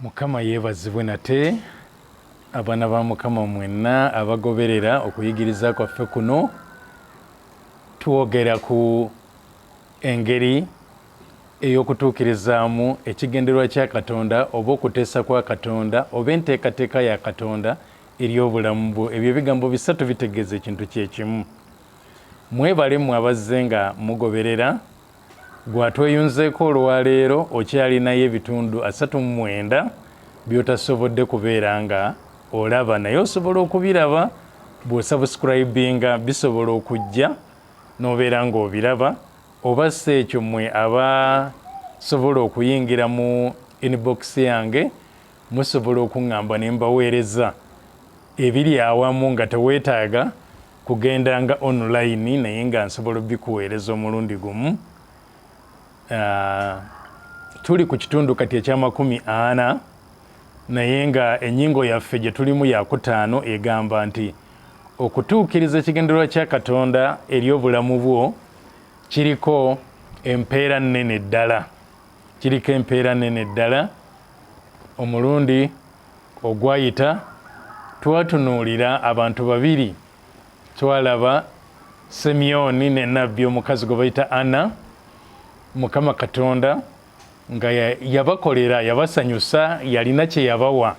mukama yeebazibwe nate abaana ba mukama mwenna abagoberera okuyigiriza kwaffe kuno twogera ku engeri ey'okutuukirizaamu ekigendererwa kya katonda oba okuteesa kwa katonda oba enteekateeka ya katonda eri obulamu bwo ebyo ebigambo bisatu bitegeeza ekintu kyekimu mwebale mwe abazze nga mugoberera Gwatweyunzeeko olwaleero okyalinayo ebitundu asatu mu mwenda byotasobodde kubeera nga olaba naye osobola okubiraba bwosubscribinga bisobola okujja nobeera nga obiraba oba si ekyo mwe abasobola okuyingira mu inbox yange musobola okuŋŋamba ne mbaweereza ebiri awamu nga teweetaaga kugenda nga online naye nga nsobola obikuweereza omulundi gumu ah, tuli ku kitundu kati ekyamakumi ana naye nga enyingo yaffe gye tulimu yakutaano egamba nti okutuukiriza ekigendererwa kya katonda eri obulamu bwo kiriko empeera nnene ddala Kiriko empeera nene ddala. Omulundi ogwayita twatunuulira abantu babiri. Twalaba Semyoni ne nabbi omukazi gwe bayita Anna, Mukama Katonda nga yabakolera, yabasanyusa, yalina kye yabawa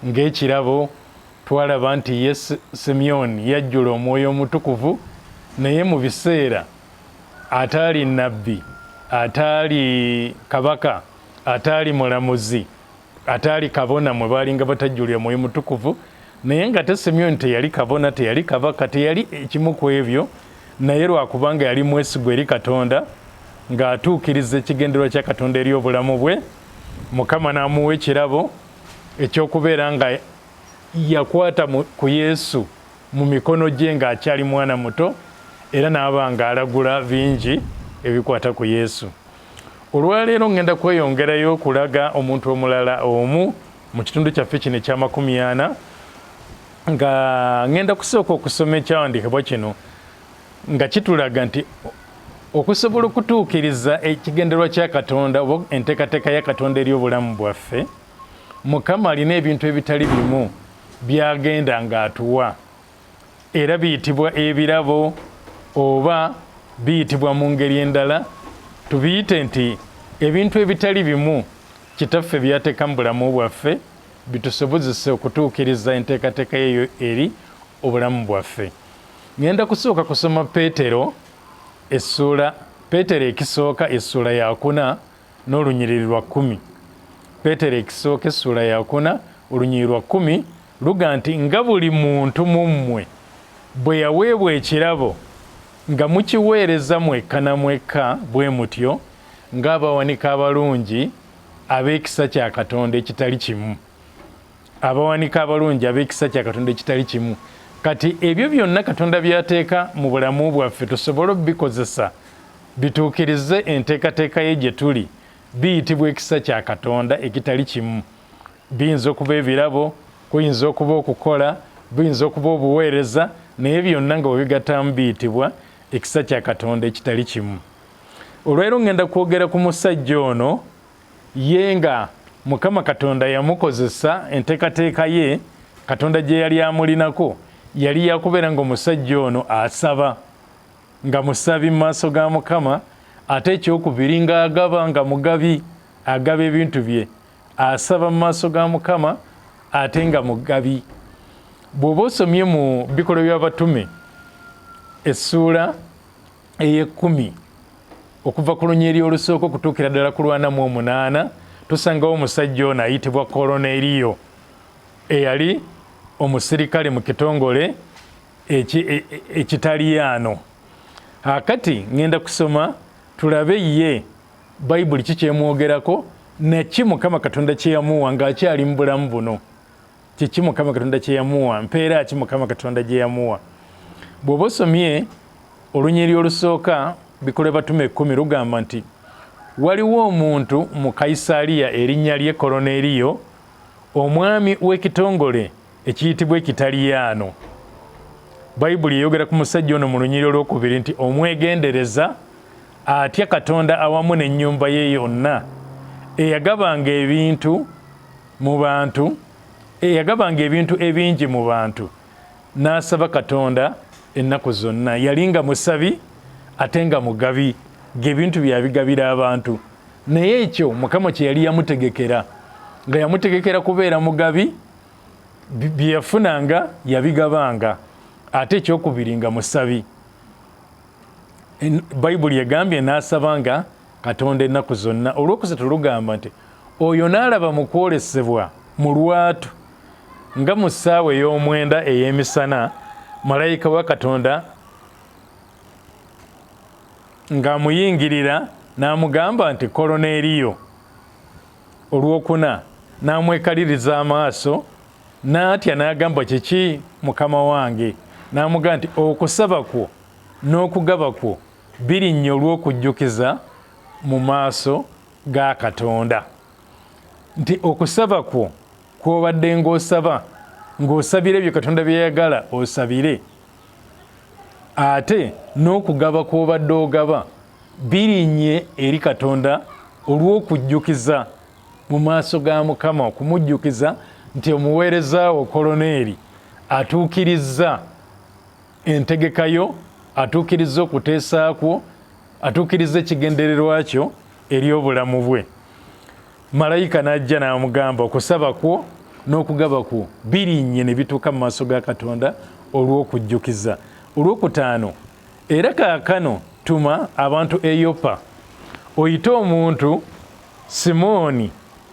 ng'ekirabo. Twalaba nti ye Semyoni yajjula omwoyo omutukuvu, naye mu biseera ataali nabbi ataali kabaka ataali mulamuzi ataali kabona mwe baalinga batajjulira mwoyo mutukuvu naye nga te simyoni teyali kabona teyali kabaka teyali ekimu ku ebyo naye lwakubanga yali mwesigwa eri katonda ng'atuukiriza ekigendererwa kya katonda eri obulamu bwe mukama n'amuwa ekirabo ekyokubeera nga yakwata ku yesu mu mikono gye ng'akyali mwana muto era n'aba ng'alagula bingi ebikwata ku Yesu. Olwaleero ŋŋenda kweyongerayo okulaga omuntu omulala omu mu kitundu kyaffe kino ekyamakumi ana nga ŋŋenda kusooka okusoma ekyawandiikibwa kino nga kitulaga nti okusobola okutuukiriza ekigendererwa kya Katonda oba enteekateeka ya Katonda eri obulamu bwaffe mukama alina ebintu ebitali bimu byagenda ng'atuwa era biyitibwa ebirabo oba biyitibwa mu ngeri endala tubiyite nti ebintu ebitali bimu kitaffe byateeka mu bulamu bwaffe bitusobozese okutuukiriza enteekateeka yeyo eri obulamu bwaffe ŋenda kusooka kusoma peetero essuula peetero ekisooka essuula yakuna N'olunyiriri lwa kkumi. Peetero ekisooka essuula yakuna olunyiriri lwa kkumi luga nti nga buli muntu mu mmwe bwe yaweebwa ekirabo nga mukiweereza mwekka na mwekka bwe mutyo ng'abawanika abalungi ab'ekisa kya Katonda ekitali kimu. abawanika abalungi ab'ekisa kya katonda ekitali kimu kati ebyo byonna katonda byateeka mu bulamu bwaffe tusobole obikozesa bituukirize enteekateeka ye gye tuli biyitibwa ekisa kya katonda ekitali kimu biyinza okuba ebirabo kuyinza okuba okukola buyinza okuba obuweereza naye byonna nga webigattamu biyitibwa ekisa kya katonda ekitali kimu olwaleero ŋŋenda kwogera ku musajja ono ye nga mukama katonda yamukozesa entekateeka ye katonda gye yali amulinako yali yakubeera nga omusajja ono asaba nga musabi mu maaso ga mukama ate ekyokubiri nga agaba nga mugabi agaba ebintu bye asaba mu maaso ga mukama ate nga mugabi bw'oba osomye mu bikolwa by'abatume essuula ey'ekkumi okuva ku lunyiri olusooka okutuukira ddala ku lwana mu omunaana tusangawo omusajja ono ayitibwa koloneeriyo eyali omusirikale mu kitongole e, e, ekitaliyaano akati ŋenda kusoma tulabe ye bayibuli kikyemwogerako naki mukama katonda kyeyamuwa ng'akyali mu bulamu buno kiki mukama katonda kyeyamuwa mpeera ki mukama katonda gyeyamuwa bw'oba osomye olunyiri olusooka bikole batuma ekkumi lugamba nti waliwo omuntu mu kaisaaliya erinnya lye koloneeriyo omwami w'ekitongole ekiyitibwa ekitaliyaano bayibuli eyogera ku musajja ono mu lunyiri olwokubiri nti omwegendereza atya katonda awamu n'ennyumba ye yonna eyagabanga ebintu mu bantu eyagabanga ebintu ebingi mu bantu n'asaba katonda ennaku zonna yali nga musabi ate nga mugabi ng'ebintu byabigabira abantu naye ekyo mukama kye yali yamutegekera nga yamutegekera kubeera mugabi bye yafunanga yabigabanga ate ekyokubiri nga musabi bayibuli egambye n'asaba nga katonda ennaku zonna olwokusatu lugamba nti oyo naalaba mu kwolesebwa mu lwatu nga mu ssaawa ey'omwenda ey'emisana malayika wa katonda ng'amuyingirira n'amugamba nti koloneeriyo olwokuna n'amwekaliriza amaaso n'atya n'agamba kiki mukama wange n'amugamba nti okusaba kwo n'okugaba kwo birinnya olw'okujjukiza mu maaso ga Katonda nti okusaba kwo kw'obadde ng'osaba ng'osabira ebyo Katonda byeyagala osabire ate n'okugaba kw'obadde ogaba birinnye eri Katonda olw'okujjukiza mu maaso ga Mukama okumujjukiza nti omuweereza wo koloneeri atuukirizza entegeka yo atuukirizza okuteesa kwo atuukirizza ekigendererwa kyo eri obulamu bwe malayika n'ajja n'amugamba okusaba kwo n'okugaba kwo birinnye ne bituuka mu maaso ga katonda olw'okujjukiza olw'okutaano era kaakano tuma abantu eyopa oyite omuntu simooni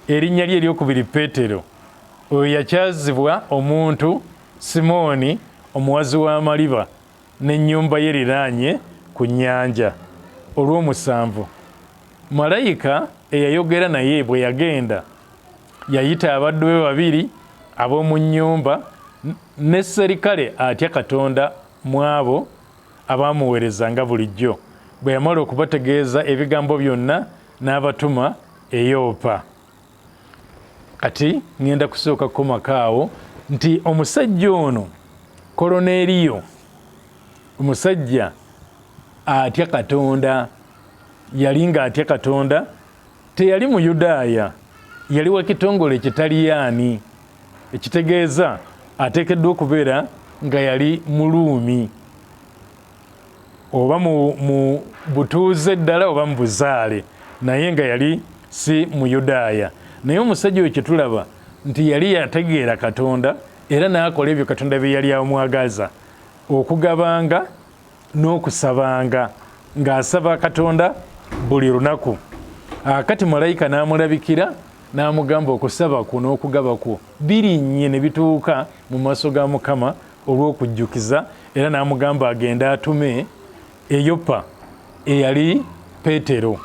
erinnya lye eryokubiri peetero oyo yakyazibwa omuntu Simooni omuwazi w'amaliba n'ennyumba ye eriraanye ku nnyanja. Olw'omusanvu, malayika eyayogera naye bwe yagenda, yayita abaddu be babiri ab'omu nnyumba ne sserikale atya Katonda mu abo abaamuweereza nga bulijjo. Bwe yamala okubategeeza ebigambo byonna, n'abatuma e Yopa. kati ŋŋenda kusooka kukomako awo nti omusajja ono koloneeriyo omusajja atya katonda yali nga atya katonda teyali muyudaaya yali wa kitongole ekitaliyaani ekitegeeza ateekeddwa okubeera nga yali muluumi oba mu, mu butuuze ddala oba mu buzaale, naye nga yali si Muyudaaya. Naye omusajja oyo kye tulaba nti yali yategeera Katonda era n'akola ebyo Katonda bye yali amwagaza, okugabanga n'okusabanga, ng'asaba Katonda buli lunaku. A, kati malayika n'amulabikira n'amugamba, Okusaba kwo n'okugaba kwo birinnye ne bituuka mu maaso ga Mukama olw'okujjukiza era n'amugamba agende atume e Yopa eyali Peetero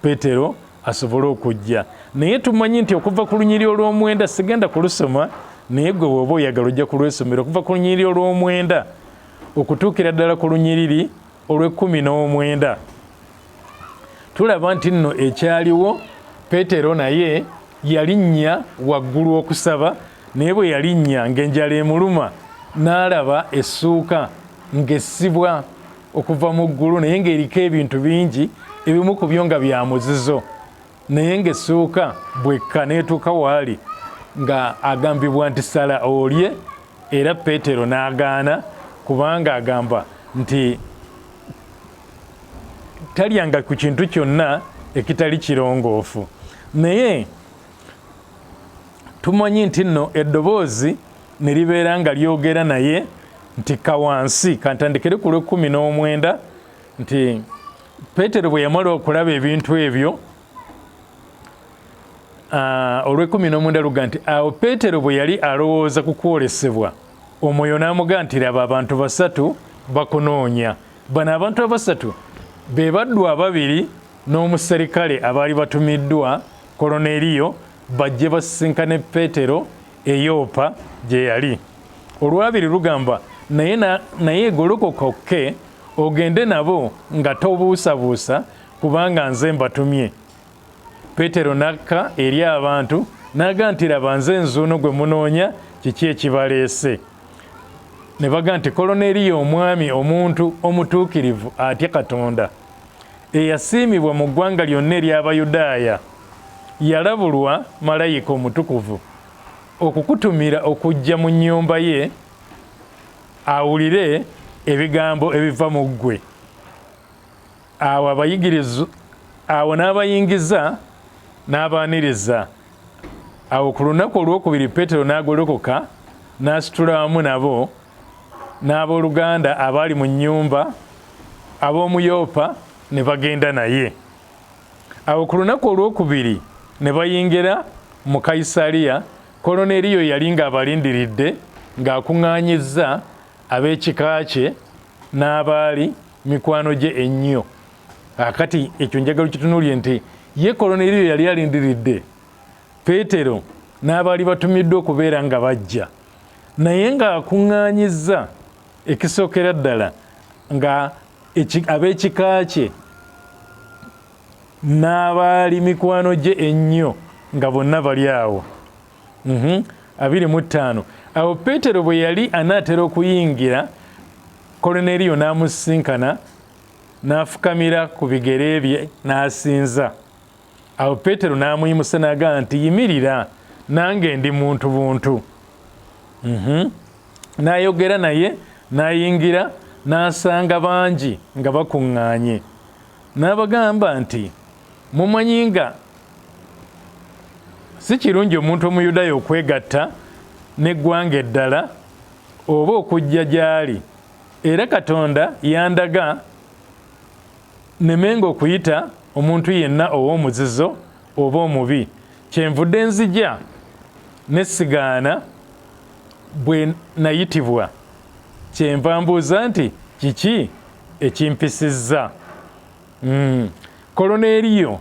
Peetero asobole okujja naye tumanyi nti okuva ku lunyiri olw'omwenda sigenda kulusoma naye gwe woba oyagala ojja kulwesomera okuva ku lunyiriri olw'omwenda okutuukira ddala ku lunyiriri olw'ekkumi n'omwenda tulaba nti nno ekyaliwo peetero naye yalinnya waggulu okusaba Naye bwe yalinnya ng'enjala emuluma, n'alaba essuuka ng'essibwa okuva mu ggulu naye ng'eriko ebintu bingi, ebimu ku byo nga bya muzizo, naye ng'essuuka bw'ekka n'etuuka w'ali nga agambibwa nti sala olye, era Peetero n'agaana kubanga agamba nti talyanga ku kintu kyonna ekitali kirongoofu. Naye tumanyi nti nno eddoboozi ne libeera nga lyogera naye nti kawansi kantandikire ku lw'ekkumi n'omwenda nti peetero bwe yamala okulaba ebintu ebyo ah, olw'ekkumi n'omwenda luga nti awo peetero bwe yali alowooza ku kwolesebwa omwoyo n'amuga nti laba abantu basatu bakunoonya bano abantu abasatu be baddu ababiri n'omuserikale abaali batumiddwa Koloneeriyo bajje basisinkane Peetero e Yopa gye yali. Olwabiri lugamba, Naye, naye golokoka okke ogende nabo nga tobuusabuusa, kubanga nze mbatumye. Peetero n'akka eri abantu n'aga nti, Laba, nze nzuuno gwe munoonya, kiki ekibaleese? Ne baga nti, Koloneeriyo omwami, omuntu omutuukirivu atya Katonda. eyasiimibwa mu ggwanga lyonna ery'Abayudaaya, yalabulwa malayika omutukuvu okukutumira okujja mu nnyumba ye awulire ebigambo ebiva mu ggwe. Awo abayigiriza awo n'abayingiza n'abaaniriza. Awo ku lunaku olwokubiri Peetero n'agolokoka n'asitula wamu nabo n'abooluganda abaali mu nnyumba ab'omu Yopa ne bagenda naye. Awo ku lunaku olwokubiri ne bayingira mu Kayisaliya, Koloneeriyo yali ng'abalindiridde ng'akuŋŋaanyizza ab'ekika kye n'abaali mikwano gye ennyo. Akati ekyo njagala okitunuulire nti ye Koloneeriyo yali alindiridde Peetero n'abaali batumiddwa okubeera nga bajja. naye ng'akuŋŋaanyizza ekisookera ddala nga ab'ekika kye n'abaali mikwano gye ennyo nga bonna bali awo mhm. abiri mu ttaano awo peetero bwe yali anaatera okuyingira koloneriyo n'amusisinkana n'afukamira ku bigere bye n'asinza Awo Peetero n'amuyimusa n'agamba nti, Yimirira, nange ndi muntu buntu. Mhm. N'ayogera naye, n'ayingira, n'asanga bangi nga bakuŋŋaanye. N'abagamba nti, Mumanyi nga si kirungi omuntu Omuyudaaya okwegatta n'eggwanga eddala oba okujja gy'ali, era Katonda yandaga Nemenga okuyita omuntu yenna ow'omuzizo oba omubi. Kyenvudde nzija ne sigaana bwe nayitibwa. Kyenva mbuuza nti kiki ekimpisizza? Mm. Koloneeriyo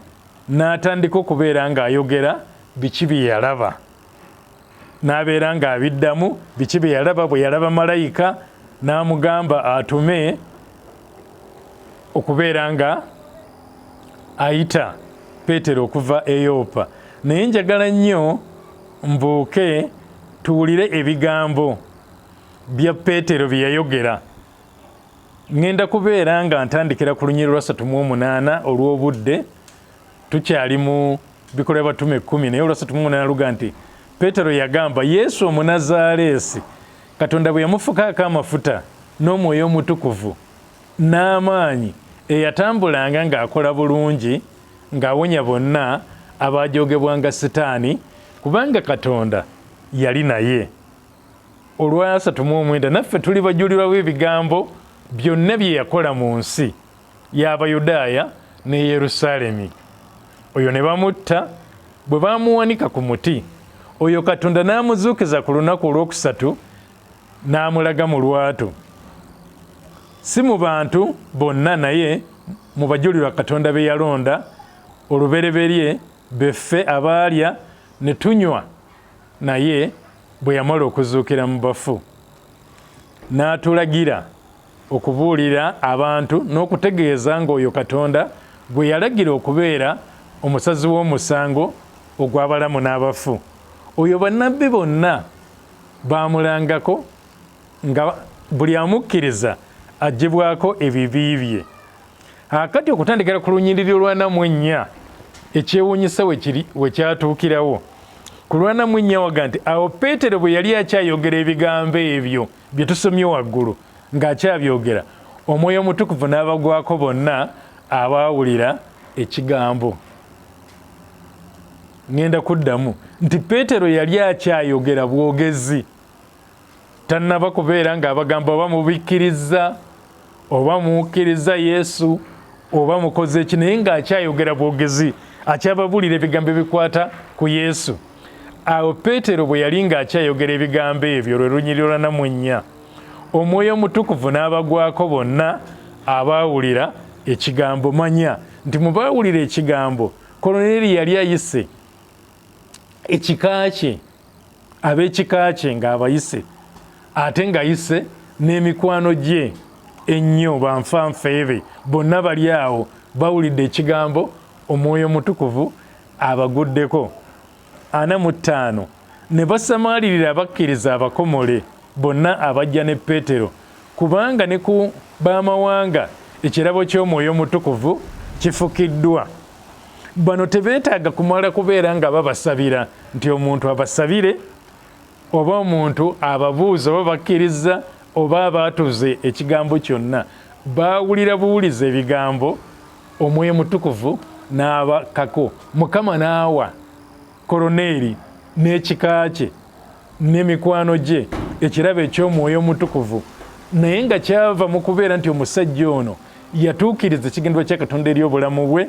n'atandika okubeera ng'ayogera biki bye yalaba. n'abeera ng'abiddamu biki bye yalaba bwe yalaba malayika n'amugamba atume okubeera nga ayita peetero okuva eyoopa naye njagala nnyo mbuuke tuwulire ebigambo bya peetero bye yayogera ŋŋenda kubeera nga ntandikira ku lunyiri lwa satu mu omunaana olw'obudde tukyali mu bikola by'abatume ekkumi naye olwasatu mu munana luga nti peetero yagamba yesu omunazaaleesi katonda bwe yamufukaako amafuta n'omwoyo omutukuvu n'amaanyi eyatambulanga ng'akola bulungi ng'awonya bonna abaajogebwanga sitaani kubanga katonda yali naye olwasatu mu omwenda naffe tuli bajulirwa b'ebigambo byonna bye yakola mu nsi y'Abayudaaya ne Yerusaalemi. Oyo ne bamutta bwe baamuwanika ku muti, oyo Katonda n'amuzuukiza ku lunaku olwokusatu n'amulaga mu lwatu, si mu bantu bonna naye mu bajulirwa Katonda be yalonda olubereberye beffe abaalya ne tunywa naye bwe yamala okuzuukira mu bafu n'atulagira okubuulira abantu n'okutegeeza ng'oyo Katonda gwe yalagira okubeera omusazi w'omusango ogw'abalamu n'abafu, oyo bannabbi bonna baamulangako nga buli amukkiriza aggyibwako ebibi bye. Akati okutandikira ku lunyiriri lwa Namwennya, ekyewuunyisa we kyatuukirawo. Ku lwa Namwennya waga nti, Awo Peetero bwe yali akyayogera ebigambo ebyo, bye tusomye waggulu ng'akyabyogera omwoyo omutukuvu n'abagwako bonna abaawulira ekigambo ŋŋenda kuddamu nti peetero yali akyayogera bwogezi tannaba kubeera ng'abagamba oba mubikkirizza oba mukkiriza yesu oba mukoze eki naye ng'akyayogera bwogezi akyababuulira ebigambo ebikwata ku yesu awo peetero bwe yali ng'akyayogera ebigambo ebyo lwe lunyiriro lwa namunnya omwoyo omutukuvu n'abagwako bonna abaawulira ekigambo manya nti mu baawulira ekigambo koloneri yali ayise ekika kye ab'ekika kye ng'abayise ate ng'ayise n'emikwano gye ennyo banfanfeebe bonna bali awo bawulidde ekigambo omwoyo omutukuvu abaguddeko ana mu ttaano ne basamaalirira abakkiriza abakomole bonna abajja ne peetero kubanga ne ku b'amawanga ekirabo ky'omwoyo omutukuvu kifukiddwa bano tebetaaga kumala kubeera nga babasabira nti omuntu abasabire oba omuntu ababuuza oba bakkirizza oba abaatuze ekigambo kyonna baawulira buwuliza ebigambo omwoyo mutukuvu n'abakako mukama n'awa koloneeri n'ekika kye ne mikwano gye ekirabo eky'omwoyo omutukuvu naye nga kyava mu kubeera nti omusajja ono yatuukiriza ekigendwa kya katonda eri obulamu bwe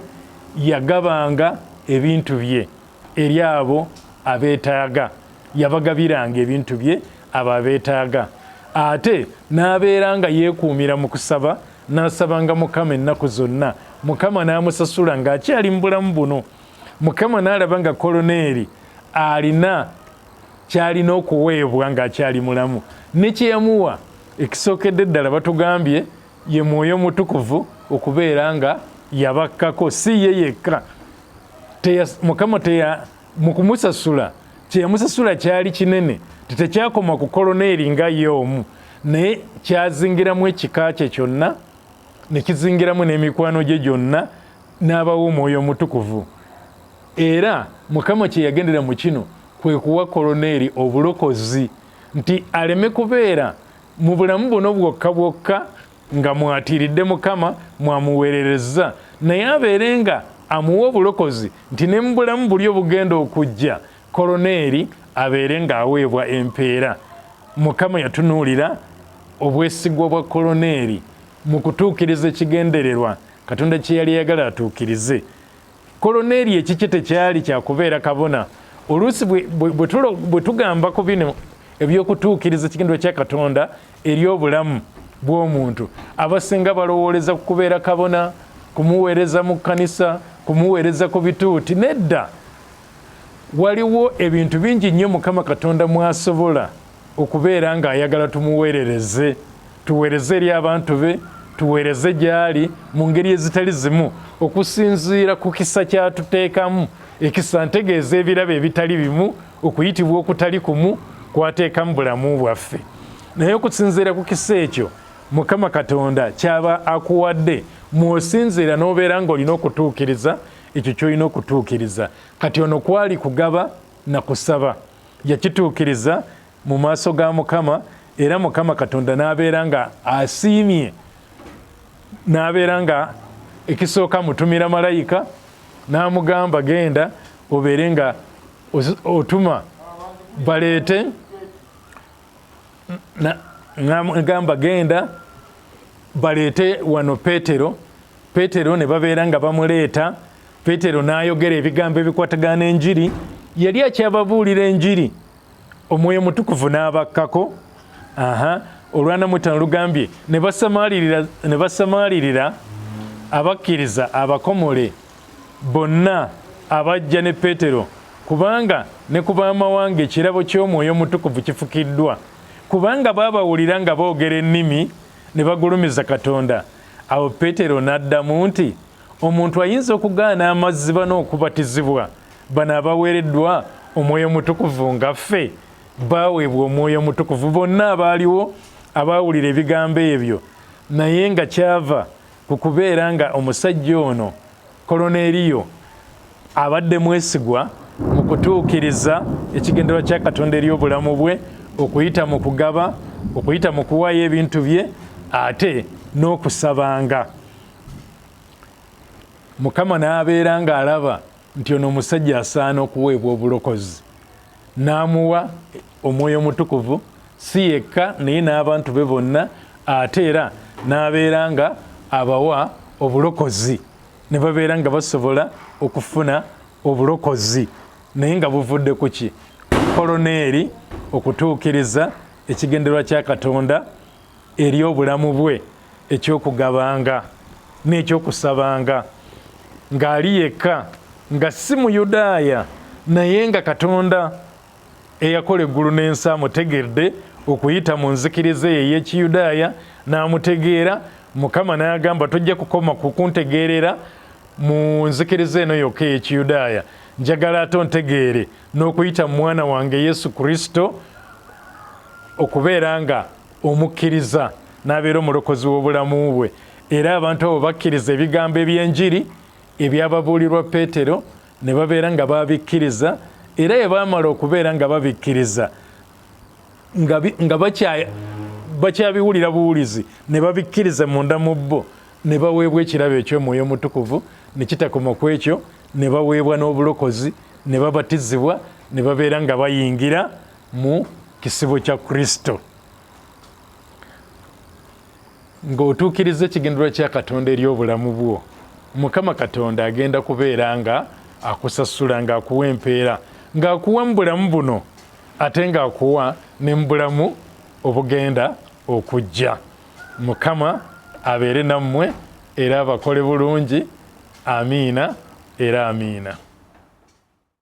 yagabanga ebintu bye eri abo abeetaaga yabagabiranga ebintu bye abo abeetaaga ate n'abeera nga yeekuumira mu kusaba n'asabanga mukama ennaku zonna mukama n'amusasula ng'akyali mu bulamu buno mukama n'alaba nga koloneeri alina kyalina okuweebwa ng'akyali mulamu ne kye yamuwa ekisookedde ddala batugambye ye mwoyo mutukuvu okubeera nga yabakkako si ye yekka mukama teya mu kumusasula kye yamusasula kyali kinene tetekyakoma ku koloneeri nga ye omu naye kyazingiramu ekika kye kyonna ne kizingiramu n'emikwano gye gyonna n'abawa omwoyo omutukuvu era mukama kye yagendera mu kino kwe kuwa koloneeri obulokozi nti aleme kubeera mu bulamu buno bwokka bwokka nga mwatiiridde mukama mwamuweererezza naye abeere nga amuwa obulokozi nti ne mu bulamu buli obugenda okujja koloneeri abeere ng'aweebwa empeera mukama yatunuulira obwesigwa bwa koloneeri Mu kutuukiriza ekigendererwa Katonda kye yali ayagala atuukirize, Koloneeriyo ekikye tekyali kya kubeera kabona. Oluusi bwe tugamba ku bino eby'okutuukiriza ekigendererwa kya Katonda eri obulamu bw'omuntu, abasinga balowooleza ku kubeera kabona, kumuweereza mu kkanisa, kumuweereza ku bituuti. Nedda, waliwo ebintu bingi nnyo Mukama Katonda mw'asobola okubeera ng'ayagala tumuweerereze tuweereze eri abantu be tuweereze gy'ali mu ngeri ezitali zimu okusinziira ku kisa kyatuteekamu ekisa ntegeeza ebirabo ebitali bimu okuyitibwa okutali kumu kwateekamu bulamu bwaffe naye okusinziira ku kisa ekyo mukama katonda kyaba akuwadde mwosinziira n'obeera ng'olina okutuukiriza ekyo ky'olina okutuukiriza kati ono kwali kugaba na kusaba yakituukiriza mu maaso ga mukama era mukama katonda n'abeera nga asiimye n'abeera nga ekisooka mutumira malayika n'amugamba genda obeere nga otuma baleete ngamba genda baleete wano petero petero ne babeera nga bamuleeta petero n'ayogera ebigambo ebikwatagana enjiri yali akyababuulira enjiri omwoyo mutukuvu n'abakkako aha olwanamutano lugambye ne basamaalirira abakkiriza abakomole bonna abajja ne Peetero, kubanga ne ku b'amawanga ekirabo ky'Omwoyo Omutukuvu kifukiddwa, kubanga baabawulira nga boogera ennimi ne bagulumiza Katonda. Awo Peetero n'addamu nti, Omuntu ayinza okugaana amazzi bano okubatizibwa, bano abaweereddwa Omwoyo Omutukuvu nga ffe? Baaweebwa Omwoyo Omutukuvu bonna abaaliwo abaawulira ebigambo ebyo, naye nga kyava ku kubeera nga omusajja ono koloneeriyo abadde mwesigwa mu kutuukiriza ekigendererwa kya katonda eri obulamu bwe okuyita mu kugaba okuyita mu kuwaayo ebintu bye ate n'okusabanga mukama n'abeera ng'alaba nti ono omusajja asaana okuweebwa obulokozi n'amuwa omwoyo omutukuvu si yekka naye n'abantu be bonna ate era n'abeera nga abawa obulokozi ne babeera nga basobola okufuna obulokozi naye nga buvudde ku ki koloneeri okutuukiriza ekigendererwa kya katonda eri obulamu bwe eky'okugabanga n'eky'okusabanga ng'ali yekka nga si Muyudaaya naye nga Katonda eyakola eggulu n'ensi amutegedde okuyita mu nzikiriza eyo ey'ekiyudaaya n'amutegeera mukama n'agamba tojja kukoma kukuntegeerera mu nzikiriza eno yokka ey'ekiyudaaya njagala ate ontegeere n'okuyita mu mwana wange yesu kristo okubeera nga omukkiriza n'abeera omulokozi w'obulamu bwe era abantu abo bakkiriza ebigambo eby'enjiri ebyababuulirwa peetero ne babeera nga babikkiriza era ye baamala okubeera nga babikkiriza nga bakyabiwulira buwulizi ne babikkiriza munda mu bo ne baweebwa ekirabo eky'omwoyo omutukuvu ne kitakoma ku ekyo ne baweebwa n'obulokozi ne babatizibwa ne babeera nga bayingira mu kisibo kya kristo ng'otuukiriza ekigendererwa kya katonda eri obulamu bwo mukama katonda agenda kubeera nga akusasula ng'akuwa empeera ng'akuwa mu bulamu buno ate ng'akuwa ne mu bulamu obugenda okujja mukama abeere nammwe era abakole bulungi amiina era amiina